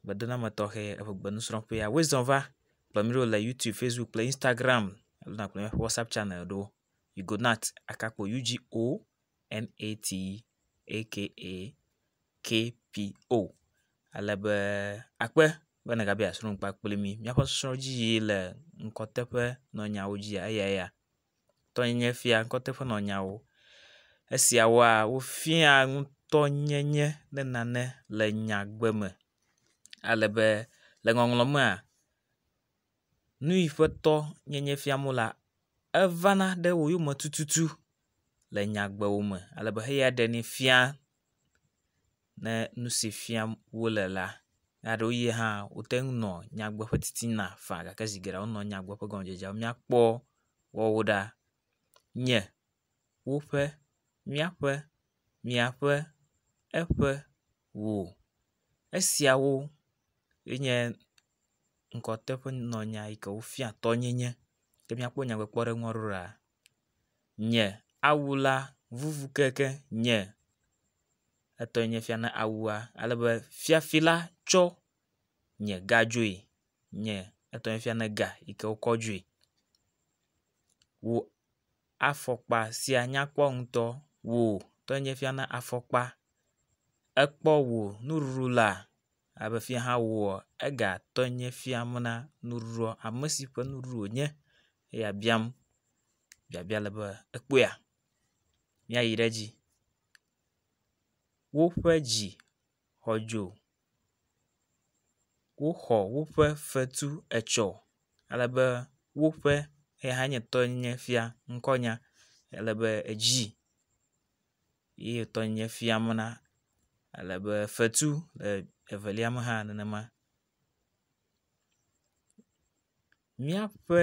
gbedenɔame tɔxɛ eƒe gbenusrɔ̃ƒea. Woe zɔ va kplɔ mi ɖo le YouTube, Facebook kple Instagram alo nakplɔ míaƒe WhatsApp channel ɖo. Ugonat akakpo U G O N A T A K A K P O. Ale be akpe be nègabia srɔ̃ ŋkpa kple mi. Míaƒe srɔ̃dzi le ŋkɔteƒe nɔ nyawo dzia eyae ya. tɔnyenye fia ŋkɔte ƒe nɔnyawo. Esiawoa wofia ŋutɔnyenye ne nane le nyagbe me ale be le ŋɔŋlɔ mea nuyi ƒe tɔ nyenye fiam wo lea evana ɖe wo yome tututu le nyagbewo me ale be heya ɖenɛ fia. ne nu si fiam wo le la. Eye ɖewo ʋie hã wote ŋu nɔ nyagbe ƒe titina faa gake zi geɖe wonɔ nyagbe ƒe gɔmedzedzea me. Míakpɔ woawo ɖa nye, woƒe, míaƒe, miaƒe, eƒe, wò. Esiawo ye nye ŋgɔte ƒe nɔnɔmenya yi ke wofia tɔnyenye. Ke míakpɔ nyagbekpɔɖeŋua ɖo ɖa. nye awu la vuvu keŋkeŋ nye etɔe nye fia na awua ale be fiafi la tsɔ nye ga dzoe nye etɔe nye fia na ga yi ke wokɔ dzoe. Wò afɔkpa sia nyakpɔ ŋutɔ. Wò tɔe nye fia na afɔkpa. Ekpɔ wò nuɖuɖu laa. Alebe fia hã woa ega tɔe nye fiam na nuɖuɖua ame si ƒe nuɖuɖu wonye eya biam biabia le be ekpɔa míayi ɖe edzi. Woƒe dzi xɔ dzo. Woxɔ woƒe fetu etsɔ ale be woƒe eya hã nye tɔe nye fia ŋkɔnya ale be edzi. ye ye tɔ nye fiam na ale be fetu le evelia me hã nenema. Míaƒe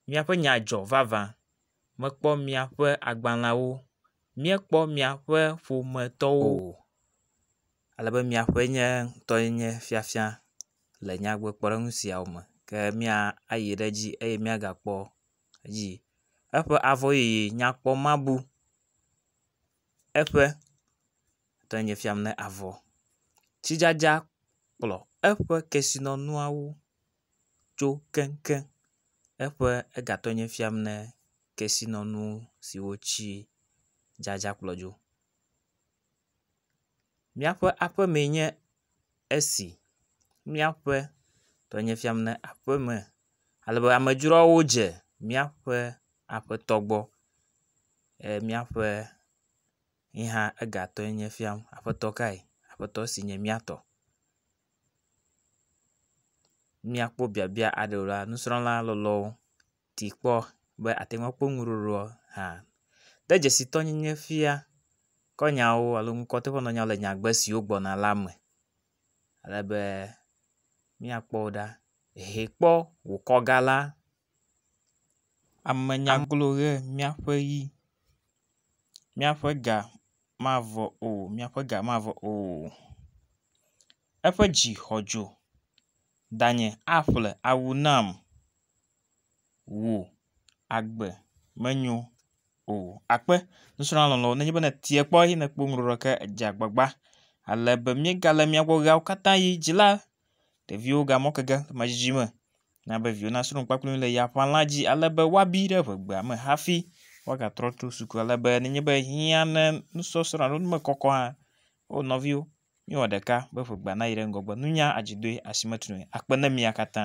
míaƒe nya dzɔ vavã mekpɔ míaƒe agbaleawo míekpɔ míaƒe ƒometɔwo o ale be miaƒe nye ŋutɔ nye fiafia le nyadzikpɔɖeŋu siawo me ke mía ayi ɖe edzi eye míagakpɔ dzi. Eƒe avɔ yeye nyakpɔ ma bu eƒe tɔ nye fiam ne avɔ. Tsidzadza kplɔ eƒe kesinɔnuawo tso keŋkeŋ. Eƒe ega tɔ nye fiam ne kesinɔnu siwo tsi dzadza kplɔ dzo. Míaƒe aƒe mee nye esi. Míaƒe tɔ nye fiam ne aƒeme ale be amedzroawo dze míaƒe aƒetɔ gbɔ eye míaƒe ye hã ega tɔ nye fiam aƒetɔ kae aƒetɔ si nye mía tɔ. Míakpɔ biabia aɖewo la nusrɔ̃la lɔlɔ̃wo. ti kpɔ be ate ŋu akpɔ nu ɖoɖoa hã. De dzesitɔnyenye fia kɔ nyawo alo ŋkɔ teƒe nɔ nyawo le nyagbe siwo gbɔna la me ale be míakpɔ wo ɖa. Hɛ kpɔ wò kɔga la. Ame nya glo ʋe míaƒe yi. Míaƒe ga mavɔ o míaƒe ga mavɔ o. Eƒe dzi xɔ dzo danye aƒle awu nam. wò agbe menyo o. Akpe, nusrɔ̃la lɔlɔ̃, nenye be nètee kpɔ eye nèkpɔ nu ɖɔɖɔ ke edze agbagba ale be míegale mía gbɔ ɣeawo katã ɣi dzi la, ɖeviwo gamɔ ke ge medzidzi me. Na be viwò nasrɔ̃ nu kpakple mí le ya ƒãla dzi ale be woabi ɖe ƒe egbea me hafi woagatrɔ tso suku ale be nenye be hiã ne nusɔsrɔ̃ alo nu mekɔkɔ hã o nɔviwo, míwɔ ɖeka be ƒe egbea nayi ɖe ŋgɔgbe. Nunya adzidoe asi metunɔe. Akpe na mia katã.